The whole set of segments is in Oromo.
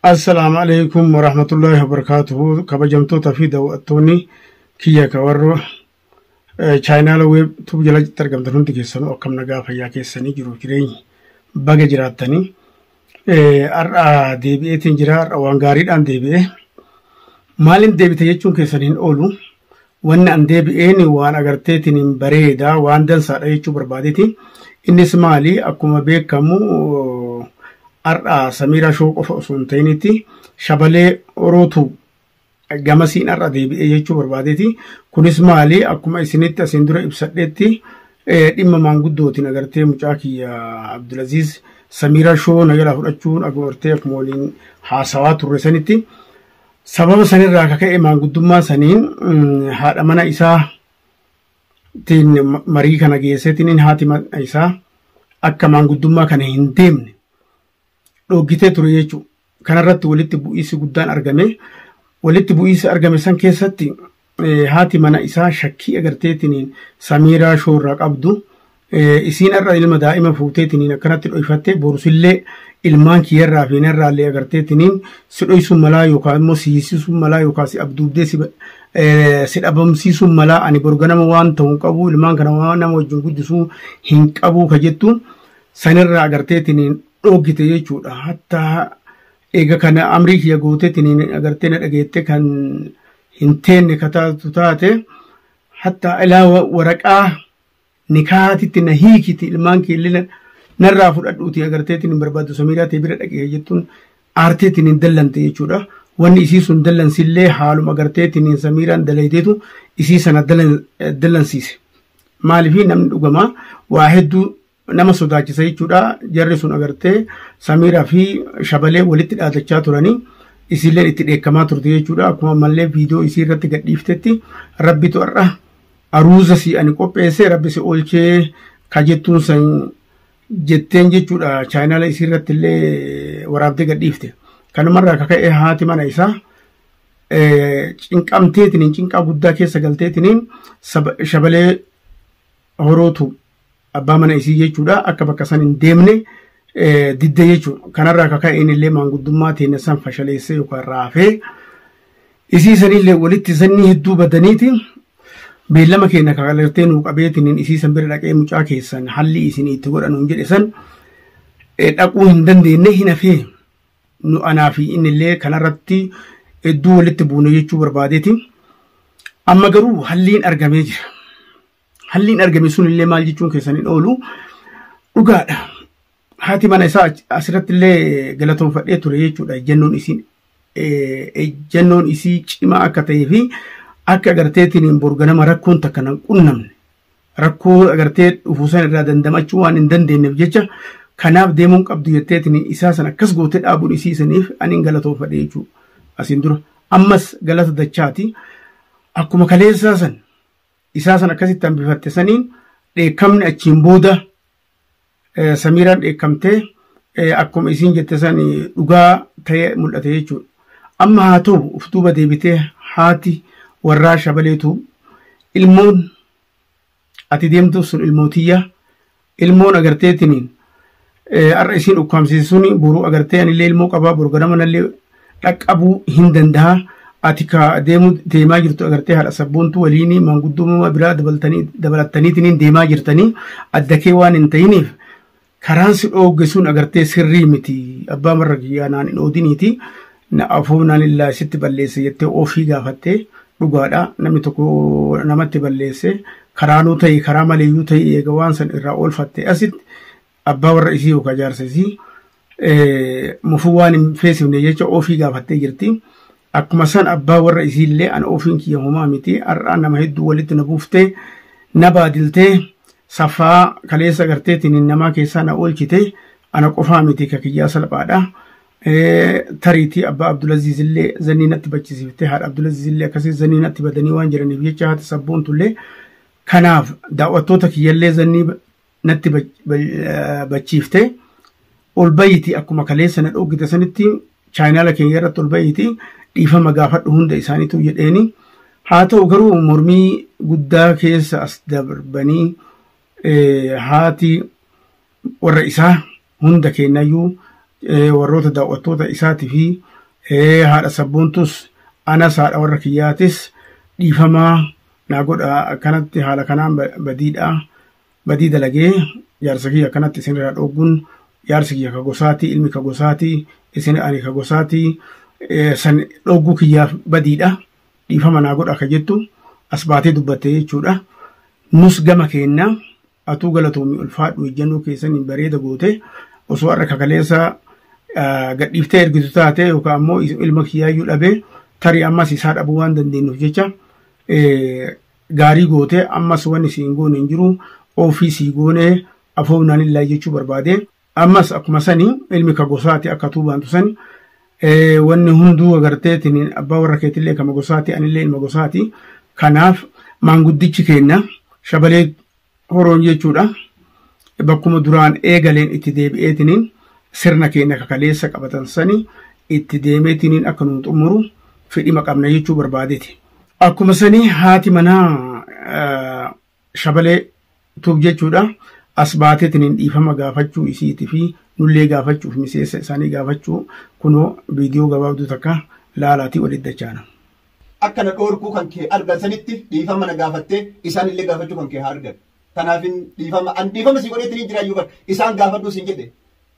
Assalaamu alaikum warahmatullahi wabarakatuhu kabajamtoota fi daawwattoonni kiyya ka warra chaayinaala weeb tuub jala argamtan hundi keessanuu akkam nagaa fayyaa keessanii jiru jireenyi baga jiraattanii Har'a deebi'eetiin jira. Har'a waan gaariidhaan deebi'ee. Maaliin deebite jechuun keessan hin oolu. Wanni an deebi'een waan agarteetiin hin bareeda waan dansaadha jechuu barbaadeeti. Innis maali akkuma beekamu har'a Samiiraa Shoo qofa osoo hin ta'initti shabalee Orootuu gamasiin har'a deebi'ee jechuu barbaadeeti. Kunis maali akkuma isinitti asiin dura ibsadheetti dhimma maanguddootiin agartee mucaa kiyya Abdulaziz Samiira Shoo na jalaa fudhachuun agartee akkuma waliin haasawaa turre sanitti sababa sanirraa akka ka'e maanguddummaa saniin haadha mana isaa tiin marii kana geesseetiin haati mana isaa akka maanguddummaa kana hin deemne dhooggitee ture jechuudha. Kanarratti walitti bu'iinsi guddaan argame. Walitti bu'iinsi argame san keessatti haati mana isaa shakkii agarteetiniin samiiraa shoorraa qabdu isiin irra ilma daa'ima fuuteetiniin akkanatti dho'ifattee borusillee ilmaan kiyyarraa fi narraallee agarteetiniin si dho'isuun malaa yookaan immoo si hiisisuun malaa yookaan si abduubdee si dhabamsiisuun malaa ani borganama waan ta'u qabu ilmaan kana waan nama wajjin guddisuu hin qabu ka jettu sanirraa agarteetiniin dhoogite jechuudha hatta eega kana amrii kiyya gooteetiniin agartee na dhageette kan hin teenne ka taatu taate hatta ilaa wa- waraqaa nikaatitti na hiikiti ilmaan keellina narraa fudhadhuuti agarteetiin hin barbaaddu samiiraa tee bira dhaqee jettuun aarteetiin hin dallante jechuudha. Wanni isii sun dallansillee haaluma agarteetiin hin samiiraan dalaydeetu isii sana dallan- dallansiise. Maaliif namni dhugamaa waa hedduu nama sodaachisa jechuudha jarri sun agartee samiiraa fi shabalee walitti dhaadachaa turanii isiilleen itti dheekkamaa turte jechuudha akkuma ammallee viidiyoo isii irratti gadhiiftetti rabbitu har'a aruuza si ani qopheesse rabbi si oolchee ka jettuun san jetteen jechuudha chaayinaala isii irratti illee waraabdee gadhiifte kanumarraa akka ka'e haati mana isaa cinqamteetiniin cinqaa guddaa keessa galteetiniin shabalee horootu abbaa mana isii jechuudha akka bakka san hin deemne didde jechuudha. Kanarraa akka ka'een illee maanguddummaa teenya san fashaleessee yookaan raafee isii sanillee walitti sannii hedduu badaniiti beellama keenya kakalirtee nuu qabeetiin isii san bira dhaqee mucaa keessan halli isin itti godhanuun jedhe san dhaquu hin dandeenye hin hafee. nu anaa fi inni illee kanarratti hedduu walitti buune jechuu barbaadeeti. Amma garuu halliin argamee jira. Halliin argame sun illee maal jechuun keessan hin oolu dhugaadha. Haati mana isaa asirratti illee galatoonfadhee ture jechuudha. Ejjennoon isiin ejjennoon isii cimaa akka ta'ee fi akka agarteetiin borganama rakkoon takka nan qunnamne. rakkoo agartee dhufu san irraa dandamachuu waan hin dandeenyeef jecha kanaaf deemuun qabdu jetteetiin isaa san akkas gootee dhaabuun isii saniif aniin galatoofadhe jechuu asiin dura ammas galata dachaati akkuma kaleessaa san isaa san akkasitti hambifatte saniin dheekkamni achiin booda Samiiraan dheekkamtee akkuma isiin jette san dhugaa ta'ee mul'ate jechuudha. Amma haa ta'u of duuba deebitee haati warraa shabaleetu ilmoon ati deemtuuf sun ilmoo tiyya ilmoon agarteetiniin har'a isiin ukkaamsiisuun boruu agartee anillee ilmoo qabaa boru ganama nallee dhaqqabuu hin danda'a. Ati ka deemu deemaa jirtu agartee haadha sabboontu waliin maanguddummaa biraa dabaltanii- dabalattaniitiin deemaa jirtanii adda kee waan hin ta'iniif karaan si dhoogge sun agartee sirrii miti abbaa marra kiyyaa naan hin oodiniiti na afuu naan illaa sitti balleesse jettee ofii gaafattee dhugaadha namni tokko namatti balleesse karaanuu ta'e karaa maleeyyuu ta'e eega waan san irraa oolfatte asitti abbaa warra isii yookaan jaarsa isii mufuu waan hin feesifne jecha ofii gaafattee jirti. Akkuma san abbaa warra isii illee an ofiin kiyya homaa miti har'aa nama hedduu walitti na buuftee na baadiltee safaa kaleessa agarteetiin namaa keessaa na oolchite ana qofaa miti ka kiyyaa salphaadha. Tariitii abbaa Abdulaziz illee zannii natti bachisiiftee haadha Abdulaziz illee akkasii zannii natti badanii waan jiraniif jecha haati sabboontu illee kanaaf daawwattoota kiyyallee zannii natti bachiifte ol bayiiti akkuma kaleessa na dhoogite sanitti chaayinaala keenya irratti ol bayiiti dhiifama gaafadhu hunda isaaniitu jedheeni haa ta'u garuu mormii guddaa keessa as darbanii haati warra isaa hunda keenyayyuu warroota daawwattoota isaatii fi haadha sabboontus anas haadha warra kiyyaatis dhiifamaa naa godha akkanatti haala kanaan badiidha badii dalagee jaarsa kiyya akkanatti isin irraa dhoogguun jaarsi kiyya ka gosaati ilmi ka gosaati isin ani ka gosaati eh, san dhoogguu kiyyaaf badiidha dhiifama naa godha ka jettu as baatee dubbatte jechuudha nus gama keenya atuu galatoomi ulfaadhu ejjannoo keessan hin bareeda goote osoo har'a kakaleessa ah, gadhiiftee ergitu taate yookaan ammoo is- ilma kiyyaayyuu dhabee tarii ammas isaa dhabuu waan dandeenyuuf jecha eh, gaarii goote ammas wanni siin goone hin jiru ofii sii goone afoofnaa lillahi jechuu barbaade ammas akkuma sani ilmi ka gosaati akka tuu baantu sani wanni hunduu agarteetiin abbaa warra keetillee kama gosaati anillee ilma gosaati kanaaf maanguddichi keenna shabalee Horoon jechuudha. Bakkuma duraan eegaleen itti deebi'eetiniin sirna keenya kakaleessa qabatan sani itti deemeetiniin akka nu xumuru fedhima qabna jechuu barbaadeti. Akkuma sani haati manaa shabalee tuub jechuudha. As baateetiniin dhiifama gaafachuu isiitii fi nullee gaafachuuf miseensa isaanii gaafachuu kunoo viidiyoo gabaabduu takka laalaatii walitti dachaana. Akka na dhoorkuu kan kee argan sanitti dhiifama na gaafattee isaan illee gaafachuu kan kee haa argan. Tanaafin dhiifama an dhiifama sii godheetti ni jiraayyuu bar isaan gaafadhuu siin jedhe.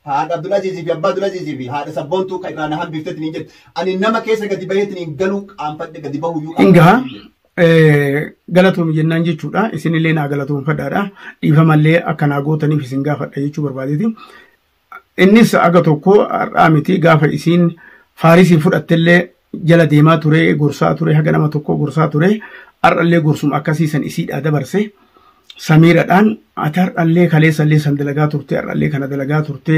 Haadha Abdulaziizii fi Abbaa Abdulaziizii fi haadha sabboontuu kan irraa na hambiftetti ni jedhe. Ani nama keessa gadi baheetti ni galuu qaanfadhe gadi bahuyyuu Hingaa galatoomi jennaan jechuudha. Isinillee naa galatoomfadhaadha. Dhiifamallee akka naa gootaniif isin gaafadha jechuu barbaadeeti. Innis aga tokko har'aa miti gaafa isiin faarisiin fudhattellee jala deemaa ture gorsaa ture haga nama tokko gorsaa ture har'allee gorsuma akkasii san isiidhaa dabarse samiiradhaan ati har'allee kaleessallee san dalagaa turte har'allee kana dalagaa turte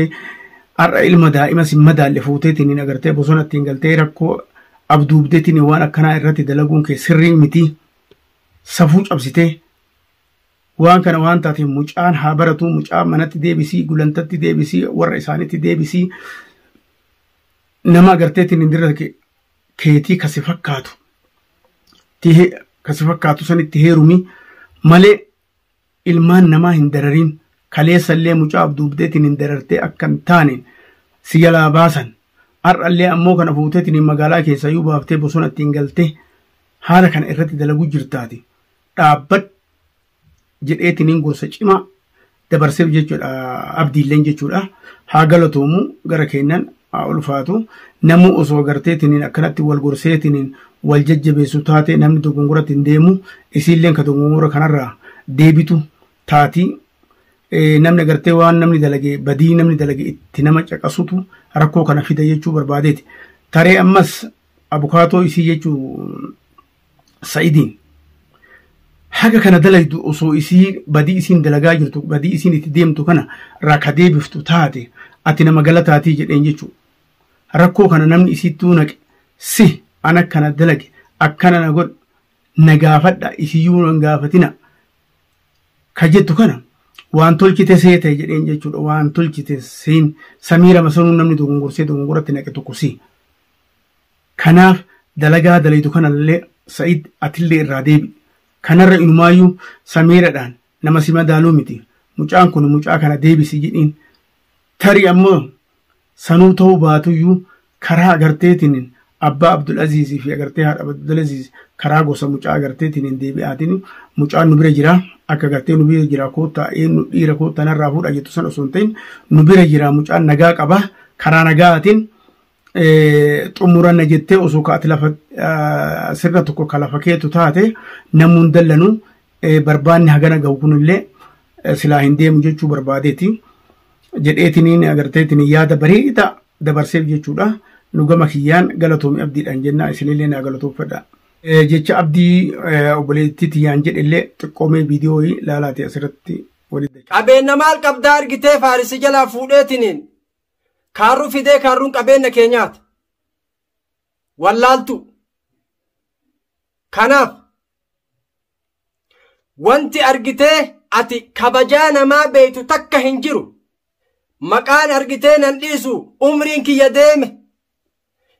har'a ilma daa'ima sin madaalle fuuteetiin hin agartee bosona ittiin galtee rakkoo abduubdeetiin waan akkanaa irratti dalaguun kee sirrii miti safuu cabsitee Waan kana waan taateef mucaan haa baratu, mucaa manatti deebisii, gulantatti deebisii, warra isaanitti deebisii. Nama agarteetiin hin dirra keetii kasi fakkaatu. Kasi fakkaatu sanitti heerumi malee ilmaan namaa hin darariin kaleessallee mucaa abduubdeetiin hin darartee akka hin taane si jalaa baasan. Har'allee ammoo kana fuuteetiin magaalaa keessaa yoo baaftee bosona ittiin galtee haala kana irratti dalaguu jirtaati. dhaabbadhu jedheetiniin gorsa cimaa dabarseef jechuudha abdiilleen jechuudha haa galatoomu gara keenyan haa ulfaatu namuu osoo garteetiniin akkanatti wal gorseetiniin wal jajjabeessu taate namni dogongoratti hin deemu isiilleen ka dogongora kanarraa deebitu taatii namni gartee waan namni dalage badii namni dalage itti nama caqasutu rakkoo kana fida jechuu barbaadeeti taree ammas abukaatoo isii jechuu sa'idiin haga kana dalaydu osoo isii badii isiin dalagaa jirtu badii isiin itti deemtu kana irraa ka deebiftu taate ati nama galataatii jedheen jechuudha. Rakkoo kana namni isiittuu naqe si an akkana dalage akkana na godhe na gaafadha isiyyuu nan gaafatina ka jettu kana waan tolchite seete jedheen jechuudha waan tolchite siin samiira masanuu namni dogongorsee dogongoratti naqe tokko si. Kanaaf dalagaa dalaydu kanallee Sa'id atillee irraa deebi'i. Kanarra inumaayyuu Samiiradhaan nama si madaalu miti. Mucaan kun mucaa kana deebisi jedhiin. Tarii ammoo sanuu ta'uu baatuyyuu karaa agarteetiin abbaa Abdulaziizii fi agartee haadha Abdulaziiz karaa gosa mucaa agarteetiin deebi'aatiin mucaan nu bira jira akka agartee nu bira jira koottaa eenyu dhiira koottaa narraa fuudha jettu san osoo hin ta'in nu bira jira mucaan nagaa qaba karaa nagaatiin xumuranna jettee osoo ka ati lafa sirna tokko ka lafa keetu taate namuun dallanu barbaanni hagana gahu kunillee silaa hin deemu jechuu barbaadeeti jedheetiniin agarteetiniin yaada bareeda dabarseef jechuudha nu gama kiyyaan galatoomi abdiidhaan jennaa isinillee naa galatoofadha. Jecha abdii obboleettii tiyyaan jedhellee xiqqoomee viidiyoo laalaati asirratti walitti. Qabeenya maal qabdaa argitee faarisi jalaa fuudheetiniin Kaarruu fidee kaarruun qabeenna keenyaati. Wallaaltuu. Kanaaf wanti argitee ati kabajaa namaa beektu takka hin jiru. Maqaan argitee nan dhiisu umriin kiyya deeme.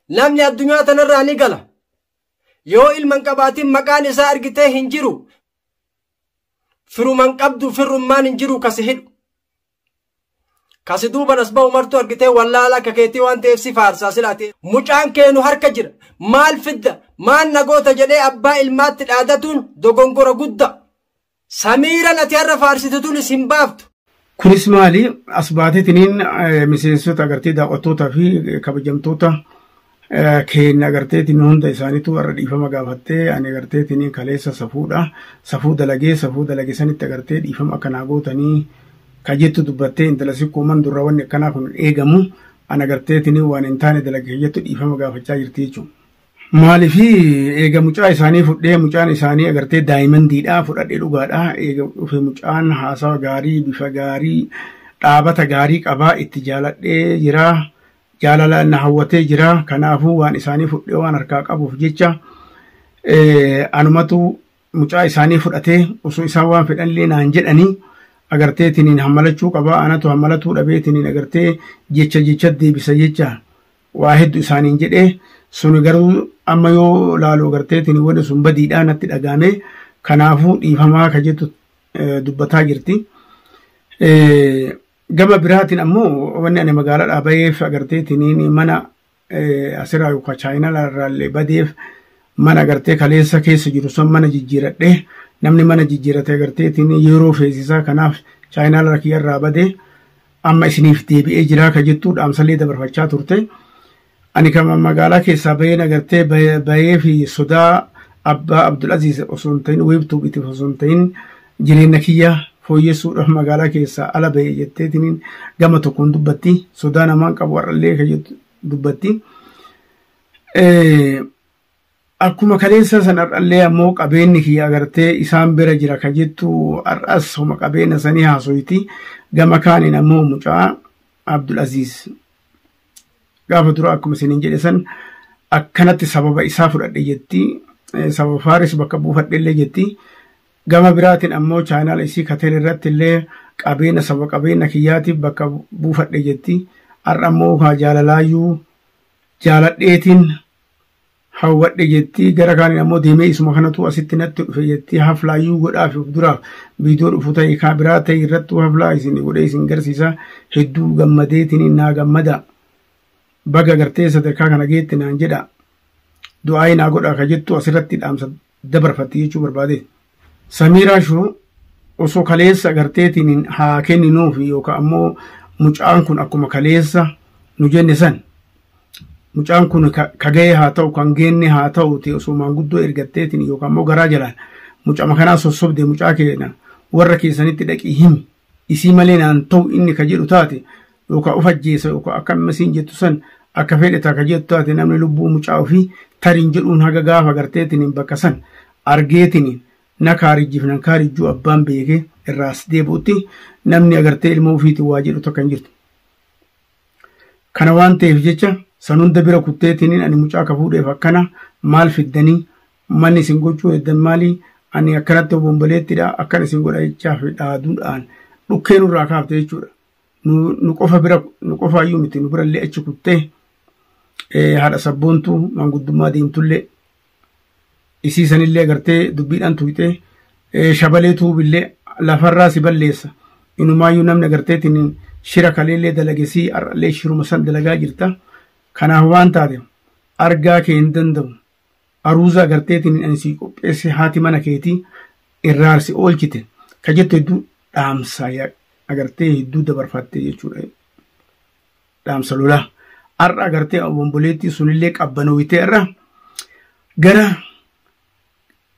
Namni addunyaa tanarraa ni gala. Yoo ilman qabaatin maqaan isaa argitee hin jiru. Firuman qabdu firrummaan hin jiru kasi hidhu. Kasi duuban as bahu martuu argitee wallaala akka keetii waan ta'eef si faarsaa sila ati mucaan keenu harka jira maal fidda maal nagoota jedhee abbaa ilmaatti dhaadatuun dogongora gudda samiiran ati har'a faarsitu tunis hin baaftu. Kunis maali as baateetiniin miseensota agartee daawwattoota fi kabajamtoota keenya agarteetiin hunda isaaniitu warra dhiifama gaafattee ani agarteetiin kaleessa safuudha safuu dalagee safuu dalage sanitti agartee dhiifama akka naa gootanii ka jettu dubbattee intala sikkoo man durra wanni akkanaa kun eegamu an agarteetiin waan hin taane dalage ka jettu dhiifama gaafachaa jirti jechuudha. Maaliif eega mucaa isaanii fudhee mucaan isaanii agartee daayimandiidhaa fudhadhee dhugaadhaa eega dhufe mucaan haasawa gaarii bifa gaarii dhaabata gaarii qabaa itti jaaladhee jiraa jaalala na hawwatee jira kanaafuu waan isaanii fudhee waan harkaa qabuuf jecha anumatu mucaa isaanii fudhatee osoo isaan waan fedhanillee naan jedhanii agartee tiniin hammalachuu qabaa anatu hammalatuu dhabee tiniin agartee jecha jecha deebisa jecha waa heddu isaaniin jedhee suni garuu amma yoo laalu agartee tiniin wanni sun badiidhaa natti dhagaame kanaafuu dhiifamaa ka jettu dubbataa jirti. Gama biraatiin ammoo wanni ani magaalaadhaa baheef agarteetiin mana asirraa yookaan chaayinalaa irraallee badeef mana agartee kaleessa keessa jiru san mana jijjiiradhee namni mana jijjiirate agarteetiin yeroo feesisaa kanaaf chaayinalaa kiyyarraa badee amma isiniif deebi'ee jiraa ka jettuu dhaamsalee dabarfachaa turte. Ani kan magaalaa keessaa bahee nagartee bahee fi sodaa abbaa Abdulaziz osoo hin ta'in wiibtuu bitiif osoo hin ta'in jireenya kiyya fooyyessuudhaaf magaalaa keessaa ala bahee jetteetiin gama tokkoon dubbatti sodaa namaan qabu har'allee kan dubbatti. Akkuma kaleessaa san har'allee ammoo qabeenni kiyya agartee isaan bira jira ka jettu har'as homa qabeenya sanii haasoyti gama kaaniin ammoo mucaa Abdul Aziz gaafa dura akkuma isiniin jedhe san akkanatti sababa isaa fudhadhe jetti sababa faaris bakka buufadhe illee jetti gama biraatiin ammoo chaayinaala isii kateen irratti illee qabeenya sababa qabeenya kiyyaatiif bakka buufadhe jetti har'a ammoo kaa jaalalaayyuu jaaladheetiin hawwadhe jettii gara kaaniin ammoo deemee isuma kanatu asitti natti dhufe jettii haflaa yuu godhaa fi of duraa viidiyoo dhufu ta'e kaa biraa ta'e irrattuu haflaa isin godhee isin garsiisa hedduu gammadeetiniin naa gammada baga gartee sadarkaa kana geette naan jedha du'aa'ii naa godhaa ka jettu asirratti dhaamsa dabarfatte jechuu barbaade. Samiiraa shoo osoo kaleessa garteetiin haa kenninuuf yookaan ammoo mucaan kun akkuma kaleessa nu jenne san mucaan kun ka ga'ee haa ta'u kan geenne haa ta'u ta'e osoo maanguddoo ergatteetiin yookaan ammoo garaa jalaan mucama kanaa sossobde mucaa keenya warra keessanitti dhaqii himi isii malee naan ta'u inni ka jedhu taate yookaan of ajjeesa yookaan akka amma siin jettu san akka fedhe takka jettu taate namni lubbuu mucaa ofii tariin jedhuun haga gaafa garteetiniin bakka san argeetiniin na kaarijjiif nan kaarijjuu abbaan beekee irraas deebi'utti namni agartee ilma ofiitiin waa jedhu takka hin jirtu. Kana waan ta'eef jecha san hunda bira kutteetiniin ani mucaa akka fuudheef akkana maal fiddanii manni isin gochuu heddan maalii ani akkanatti obomboleettidha akkan isin godha jechaa fi dhaaduudhaan dhukkee nurraa kaafte jechuudha. nu qofa bira nu qofa iyyuu miti nu birallee achi kuttee haadha sabboontuu manguddummaa deemtullee isii sanillee gartee dubbiidhaan tuqxee shabalee tuubillee lafarraa si balleessa inumaayyuu namni agarteetiin shira kaleellee dalagesii har'allee shiruma san dalagaa jirta kanaaf waan taate argaa kee hin danda'u aruuza agarteetiin ani sii qopheesse haati mana keetii irraarsi oolchite ka jettu hedduu dhaamsa agartee hedduu dabarfatte jechuudha. Dhaamsa lolaa. Har'a agartee obomboleettii sunillee qabbanooyitee irra gara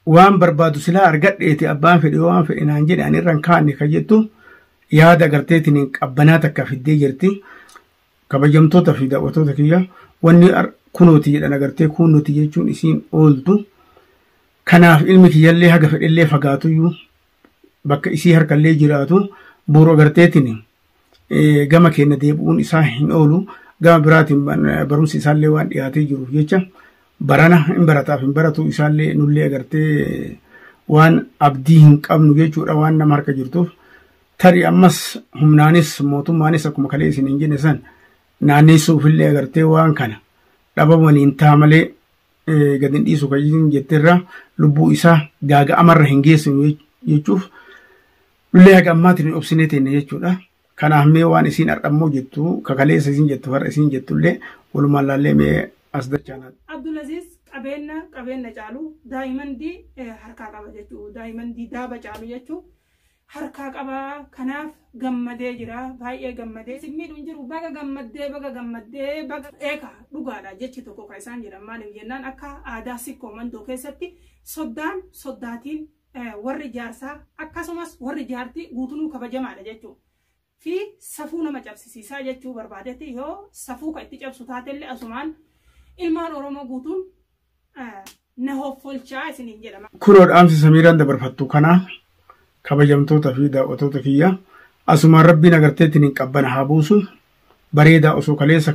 waan barbaadu silaa argadheeti abbaan fedhe waan fedhe naan jedhe ani irra hin kaanne ka jettu yaada agarteetiin qabbanaa takka fiddee jirti. Kabajamtoota fi daawwattoota kiyya wanni kunooti jedhan agartee kunooti jechuun isiin ooltu. Kanaaf ilmi kiyyallee haga fedhellee fagaatuyyuu bakka isii harkallee jiraatu buuru agarteetiin gama keenya deebi'uun isaa hin oolu. Gama biraatiin barumsi isaallee waan dhiyaatee jiruuf jecha barana hin barataaf hin baratu isaallee nullee agartee waan abdii hin qabnu jechuudha waan nama harka jirtuuf. Tarii ammas humnaanis mootummaanis akkuma kalee isin hin jenne san naanneessuufillee agartee waan kana dhabamaniin ta'a malee gad hin dhiisu kan isin jetterraa lubbuu isaa gaaga'amarra hin geessinu jechuuf lullee haga ammaatiin hin obsinee teenne jechuudha. Kanaaf mee waan isin har'ammoo jettu kakaleessa isin jettu har'a isin jettullee walumaan laallee mee as dachaan. Abdulaziz qabeenya qabeenya caalu daa'imandii harkaa qaba jechuudha. Daa'imandii daaba caalu jechuudha. harkaa qaba kanaaf gammadee jira baay'ee gammadee isin miidhu hin jiru baga gammaddee baga gammaddee baga eeka dhugaadha jechi tokko kan isaan jedhan maaliif jennaan akka aadaa sikkoo mandoo keessatti soddaan soddaatiin eh, warri jaarsaa akkasumas warri jaartii guutunuu kabajamaadha jechuu fi safuu nama cabsisiisaa jechuu barbaadetti yoo safuu kan itti cabsu taatellee asumaan ilmaan oromoo guutuun eh, na hoffolchaa isiniin jedha. Kunoo dhaamsi Samiiraan dabarfattu kanaa kabajamtoota fi daawwatoota kiyya asumaan rabbiin agarteetiin hin qabbana haa buusu bareedaa osoo kaleessa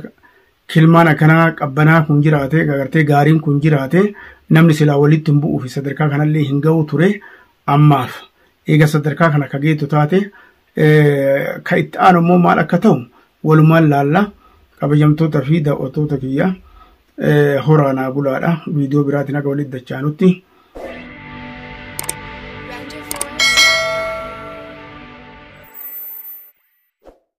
kilmaan akkanaa qabbanaa kun jiraate agartee gaariin kun jiraate namni silaa walitti hin bu'uu fi sadarkaa kanallee hin ga'u ture ammaaf eega sadarkaa kana akka geettu taate Kan itti aanu immoo maal akka ta'u walumaan laalla kabajamtoota fi daawwattoota kiyya horaa naa bulaadha viidiyoo biraatiin akka walitti dachaanutti.